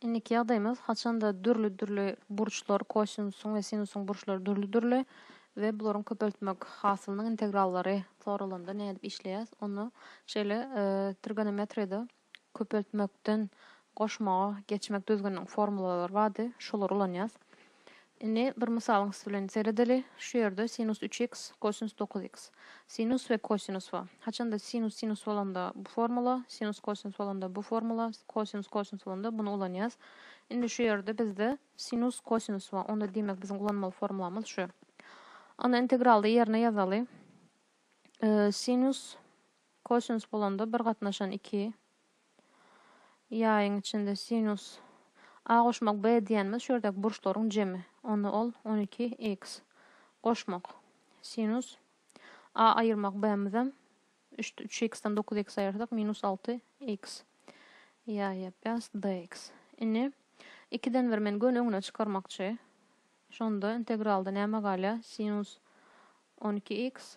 Indiki ýagdaýymyz haçanda dürli-dürli burçlar, kosinusyň we sinusyň burçlary dürli-dürli we bularyň köpeltmek hasylynyň integrallary soralanda nädip işleýäs, ony şeýle trigonometriýada köpeltmekden goşmaga geçmek düzgüniniň formulalary bardy, şolary ulanýas. Indi bir mysalyň üsti bilen seredeli. Şu ýerde sinus üç x, kosinus dokuz x. Sinus we kosinus bar. Haçanda sinus sinus bolanda bu formula, sinus kosinus bolanda bu formula, kosinus kosinus bolanda buny ulanýas. Indi şu ýerde bizde sinus kosinus bar. Onda diýmek biziň ulanmaly formulamyz şu. Ony integralda ýerine ýazaly. Sinus kosinus bolanda bir gatnaşan iki, Ýaýyň içinde sinus A goşmak B diýýänimiz şu ýerdäki burçlaryň jemi. Onda ol on iki X. Goşmak. Sinus A aýyrmak B-mizem üç üç X-den dokuz X aýyrsak minus alty X. Ýaý ýapýas DX. Indi ikiden bir men göni öňüne çykarmakçy. Şonda integralda näme galýar? Sinus on iki X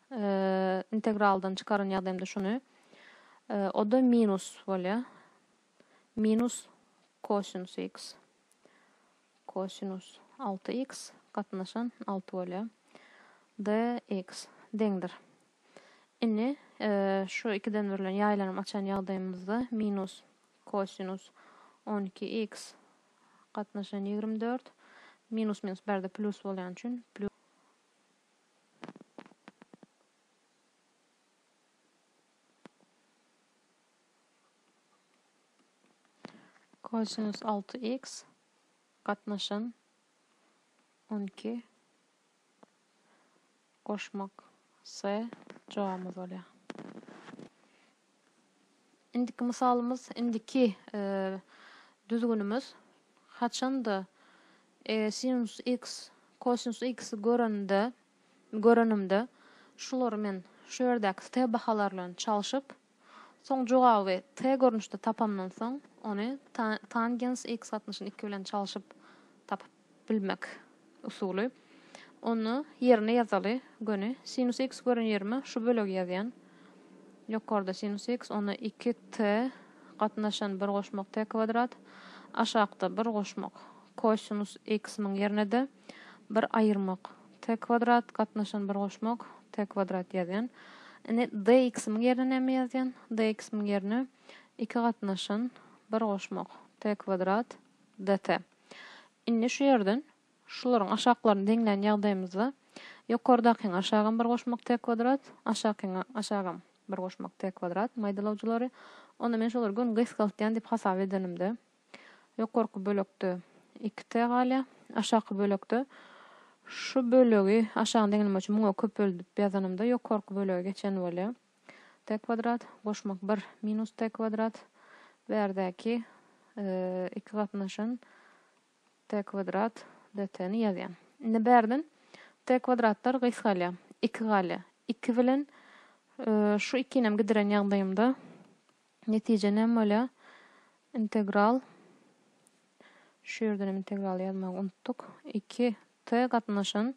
integraldan çykaran ýagdaýymda şuny, o-da minus bolýar. Minus kosinus x. Kosinus 6x gatnaşan 6 bolýar. dx deňdir. Indi şu ikiden bir bilen ýaýlanyp açan ýagdaýymyzda minus kosinus 12x gatnaşan 24 minus minus bärde plyus bolýany üçin Kosinus alty x gatnaşan on iki goşmak s jogabymyz bolýar. Indiki mysalymyz, indiki düzgünimiz, haçanda eger sinus x kosinus x-i görende, görenimde, şulary men şu ýerdäki t bahalar bilen çalşyp, soň jogaby t görnüşde tapanymdan soň, ony ta tangens x gatnaşyn iki bilen çalşyp tapyp bilmek usuly. Ony ýerine ýazaly göni. Sinus x gören ýerime şu bölegi ýazýan. Ýokarda sinus x, onda 2 t gatnaşan 1 goşmak t kwadrat. Aşakda 1 goşmak kosinus x-nyň ýerine-de 1 aýyrmak t kwadrat gatnaşan 1 goşmak t kwadrat ýazýan. Indi dx-nyň ýerine näme ýazýan? Dx-nyň ýerine 2 gatnaşan 1 goşmak t kwadrat dt. Indi şu ýerden şularyň aşaklaryny deňlän ýagdaýymyzda ýokardakyňa aşagam bir goşmak t kwadrat, aşakyňa aşagam bir goşmak t kwadrat maýdalawjylary. Onda men şolary göni gysgaltýan diýip hasap edenimde ýokarky bölekde iki t galýar. Aşaky bölekde şu bölegi aşagyny deňlemek üçin muňa köpeldip ýazanymda ýokarky bölege geçen bolýar. T kwadrat, goşmak bir, minus T kwadrat, bärdäki iki gatnaşan T kwadrat dt ni ýazýan. Indi bärden T kwadratlar gysgalýar, iki galýar, iki bilen şu ikinem gidiren ýagdaýymda Netije näme bolýar? Integral, şu ýerden hem integraly ýazmagy unutdyk, iki t gatnaşan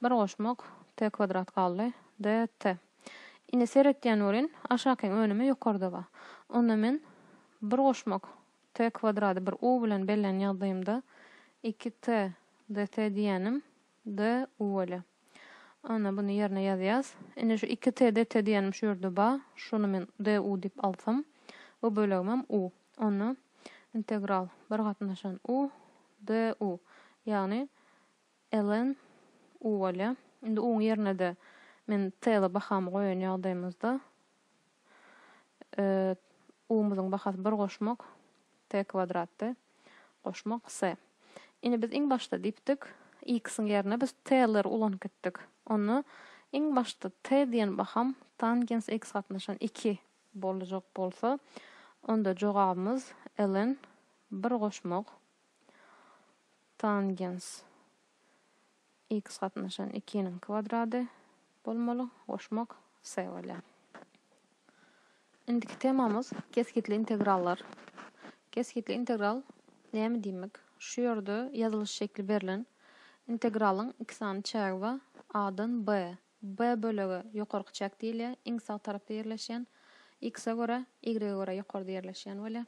bir goşmak t kwadrat galdy, dt. Indi seretýän welin, aşakyň önümi ýokarda bar. Onda men bir goşmak t kwadrady bir u bilen bellän ýagdaýymda iki t dt diýýänim, G-uwele. Ana, buny ýerine ýazýas. Indi şu iki t de t diýenim şu ýerde ba, şuny men d-u diýip alsam, bu bölegimem u. Onda integral bir gatnaşan u, d-u, ýagny ln uwele. Indi u-nyň ýerine-de men t-ly bahamy goýan ýagdaýymyzda U-myzyň bahasy bir goşmak t kwadratdy. Goşmak s. Indi biz iň başda diýipdik, x-iň ýerine biz t-leri ulanyp gitdik. Onda iň başda t diýen baham tangens x gatnaşan iki boljak bolsa, onda jogabymyz ln bir goşmak tangens X gatnaşan ikiniň kwadrady bolmaly, goşmak C bolýar. Indiki temamyz kesgitli integrallar. Kesgitli integral näme diýmek? Şu ýerde ýazylyş şekli berlen integralyň iki sany çägi bar, A-dan B B bölege ýokarky çäk diýilýär, iň sag tarapda ýerleşýän, X-e görä, Y-e görä ýokarda ýerleşýän bolýar.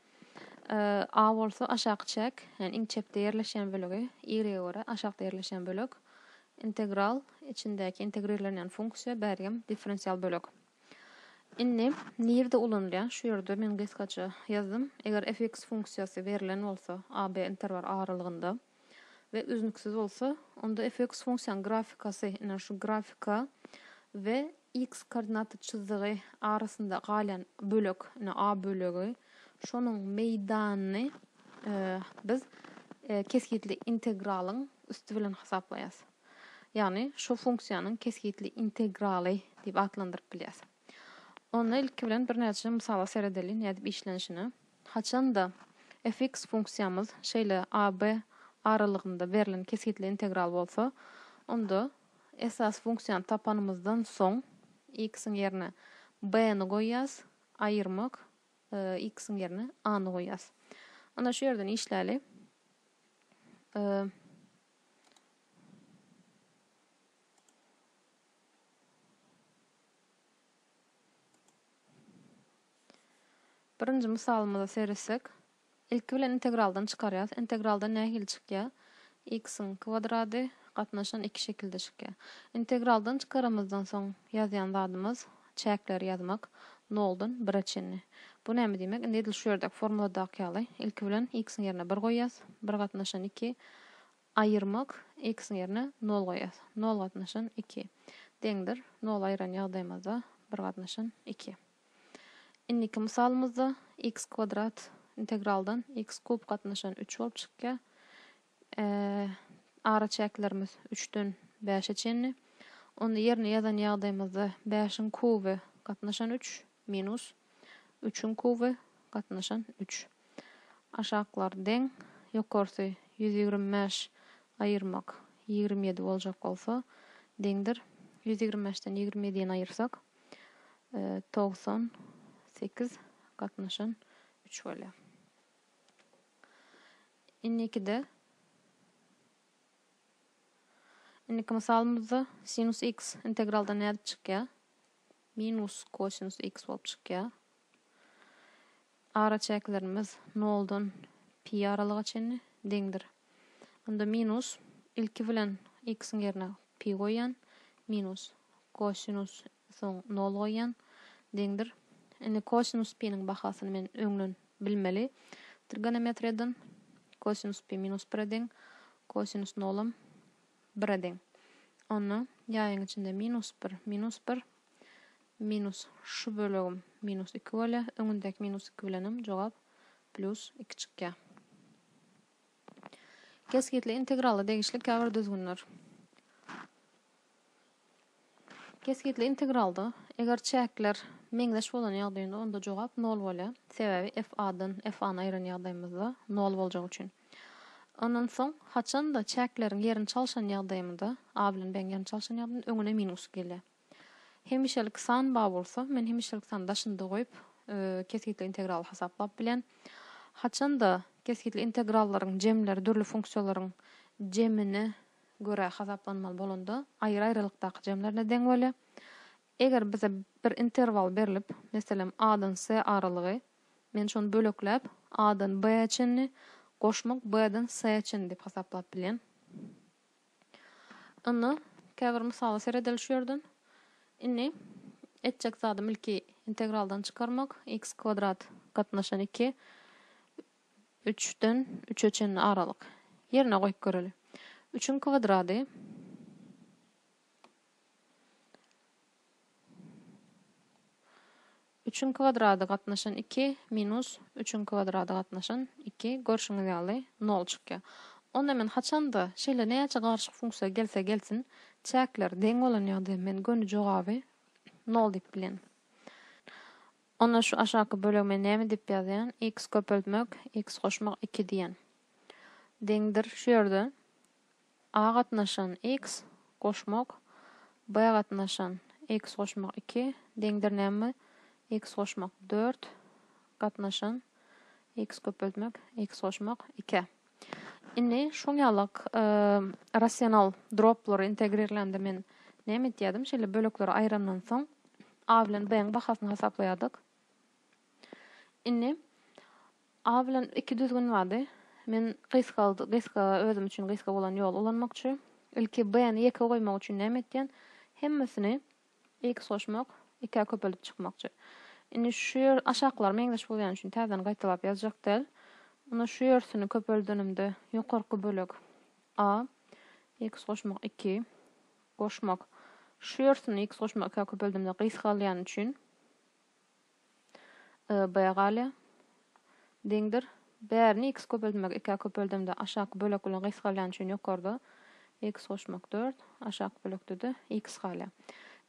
A bolsa aşaky çäk, ýagny iň çepde ýerleşýän bölegi, Y-e görä aşakda ýerleşýän bölek. Integral, içindäki integrirlenýän funksiýa, bärigem differensial bölek. Indi nirde ulanylýar? Şu ýerde men gysgaça ýazdym. Eger f(x) funksiýasy berlen bolsa, a, b interwal aralygynda. we üznüksiz bolsa, onda fx funksiýanyň grafikasy, ine, şu grafika we x koordinata çyzdygy arasynda galýan bölek, ine, a bölegi, şonuň meýdanyny biz kesgitli integralyň üsti bilen hasaplaýarys. Ýagny, şu funksiýanyň kesgitli integraly diýip atlandyryp bilýäris. Onda ilki bilen birnäçe mysala seredeliň nädip işlenişine. Haçanda fx funksiýamyz şeýle a-b aralygynda berlen kesgitli integral bolsa, onda esasy funksiýany tapanymyzdan soň x-iň ýerine b-ni goýýas, aýyrmak, x-iň ýerine a-ny goýýas. Onda şu ýerden işläli. Birinji mysalymyza seretsek, ilki bilen integraldan çykarýarys. Integraldan nähili çykýar? X-iň kwadrady gatnaşan iki şekilde çykýar. Integraldan çykaramyzdan soň ýazýan zadymyz çäkleri ýazmak, noldan bire çenli. Bu näme diýmek? Indi edil şu ýerdäki formuladaky ýaly, ilki bilen x-iň ýerine bir goýýas, bir gatnaşan iki, Aýyrmak, X-iň ýerine nol goýýas. Nol gatnaşan iki. Deňdir. Nol aýyran ýagdaýymyzda bir gatnaşan iki. Indiki mysalymyzda X kwadrat integraldan X kub gatnaşan üç bolup çykýar. Araçäklerimiz üçden bäşe çenli. Onda ýerine ýazan ýagdaýymyzda bäşiň kuby gatnaşan üç minus üçiň kuby gatnaşan üç. Aşaklary deň, ýokarsy ýüz ýigrimi bäş aýyrmak ýigrimi ýedi boljak bolsa, deňdir. Ýüz ýigrimi bäşden ýigrimi ýediýini aýyrsak, togsan sekiz gatnaşan üç bolýar. Indikide, indiki mysalymyzda sinus x integralda nädip çykýar? Minus kosinus x bolup çykýar. Araçäklerimiz noldan pi aralyga çenli deňdir. Onda minus, ilki bilen x-iň ýerine pi goýýan, minus, kosinus, soň nol goýýan, deňdir. Indi kosinus piniň bahasyny men öňden bilmeli. Trigonometriýadan kosinus pi minus bire deň, kosinus nolam bire deň. Onda ýaýyň içinde minus bir, minus bir, Minus şu bölegim minus iki bolýar. Öňündäki minus iki bilenem jogap plus iki çykýar. Kesgitli integrala degişli käbir düzgünler. Kesgitli integralda eger çäkler meňzeş bolan ýagdaýynda onda jogap 0 bolýar. Sebäbi f a-dan f a-ny aýyran ýagdaýymyzda 0 boljagy üçin. Ondan soň, haçan-da çäkleriň ýerini çalşan ýagdaýymda, A bilen B-iň ýerini çalşan ýagdaýymda öňüne minus gelýär. Hemişelik san bar bolsa, men hemişelik sany daşynda goýup, kesgitli integraly hasaplap bilen. Haçan-da kesgitli integrallaryň jemleri dürli funksiýalaryň jemine görä hasaplanmaly bolanda, aýry-aýralykdaky jemlerine deň bolýar. Eger bize bir interwal berlip, meselem, A-dan S aralygy, men şony bölekläp, A-dan B-ä çenli, goşmak B-den S-ä çenli diýip hasaplap bilýän. Onda käbir mysala seredeli şu ýerden. Indi etjek zadym ilki integraldan çykarmak, x kwadrat gatnaşan iki, üçden üçe çenli aralyk. Ýerine goýup göreli. Üçüň kwadrady Üçiň kwadrady gatnaşan iki minus üçiň kwadrady gatnaşan iki, görşüňiz ýaly, nol çykýar. Onda men haçan-da, şeýle näçe garyşyk funksiýa gelse gelsin, çäkler deň bolan ýagdaýda men göni jogaby nol diýip bilýän. Onda şu aşaky bölegi men näme diýip ýazýan? X köpeltmek, X goşmak iki diýýän. Deňdir şu ýerde A gatnaşan, x, goşmak, B gatnaşan, x goşmak iki, deňdir näme, x goşmak dört, gatnaşan, x köpeltmek, x goşmak ikä. Indi şoň ýalak rasional droplary integrirlende men näme etýädim, şeýle bölekleri aýrandan soň A bilen B-iň bahasyny hasaplaýardyk. Indi A bilen iki düzgün bardy. Men gysga gysga özüm üçin gysga bolan ýoly ulanmakçy. Ilki B-ni ýeke goýmak üçin näme etýän? Hemmesini X goşmak, ikä köpelip çykmakçy. Indi şu ýer aşaklary meňzeş bolýany üçin täzeden gaýtalap ýazjak däl. Onda şu ýersini köpeldenimde ýokarky bölek A X goşmak iki goşmak şu ýersini X goşmak ikä köpeldimde gysgalýany üçin y, b, galýar. Deňdir. Bärini x köpeltmek ikä köpeldemde aşaky bölek bilen gysgalýany üçin ýokarda x goşmak dört, aşaky bölekde-de x galýar.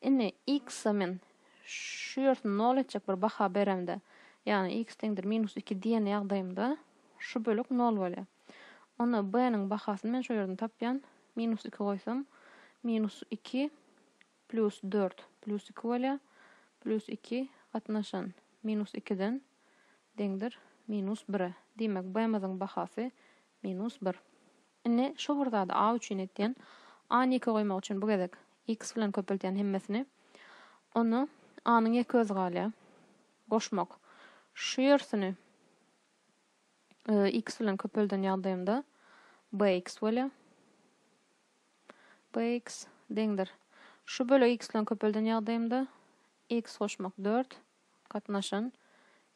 Indi x-e men şu ýersini nol etjek bir baha beremde, ýagny x deňdir minus iki diýen ýagdaýymda şu bölek nol bolýar. Onda b-niň bahasyny men şu ýerden tapýan, minus iki goýsam, minus iki, Plýus dört, plýus iki bolýa, plýus iki gatnaşan minus ikiden deňdir minus bire. Diýmek, B-miziň bahasy minus bir. Indi şu bir zady A üçin etýän. A-ny ýeke goýmak üçin bu gezek X bilen köpeltýän hemmesini. Onda A-nyň ýeke özi galýa. Goşmak. Şu ýersini X bilen köpelden ýagdaýymda BX bolýa. BX deňdir. Şu bölegi x bilen köpelden ýagdaýymda x goşmak dört, gatnaşan,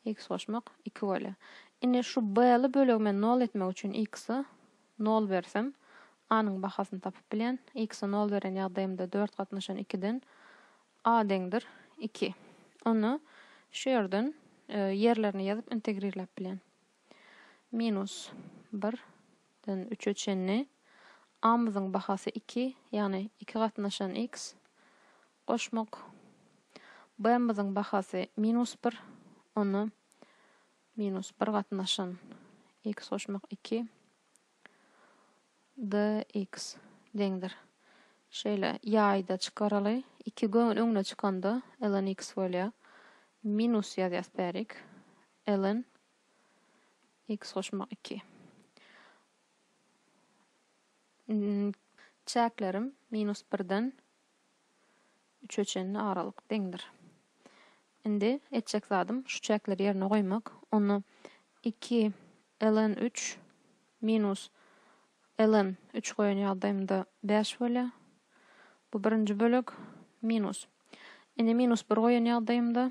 x goşmak iki bolýar. Indi şu B-li bölegi men nol etmek üçin x-e nol bersem, A-nyň bahasyny tapyp bilýän. X-e nol beren ýagdaýymda dört gatnaşan ikiden A deňdir iki. Onda şu ýerden ýerlerini ýazyp integrirläp bilýän. Minus, bir, den üçe çenli, A-myzyň bahasy iki, ýagny iki gatnaşan x, goşmak, B-myzyň bahasy minus bir, onda minus bir gatnaşan x goşmak iki, dx, deňdir. Şeýle, ýaýda çykaraly. Iki göwün öňüne çykanda ln x bolýar. Minus ýazýas bärik. Ln, X goşmak iki. N, Çäklerim minus birden üçe çenli aralyk deňdir. Indi etjek zadym şu çäkleri ýerine goýmak. Onda iki ln üç minus ln üç goýan ýagdaýymda bäş bolýar. Bu birinji bölek minus. Indi minus bir goýan ýagdaýymda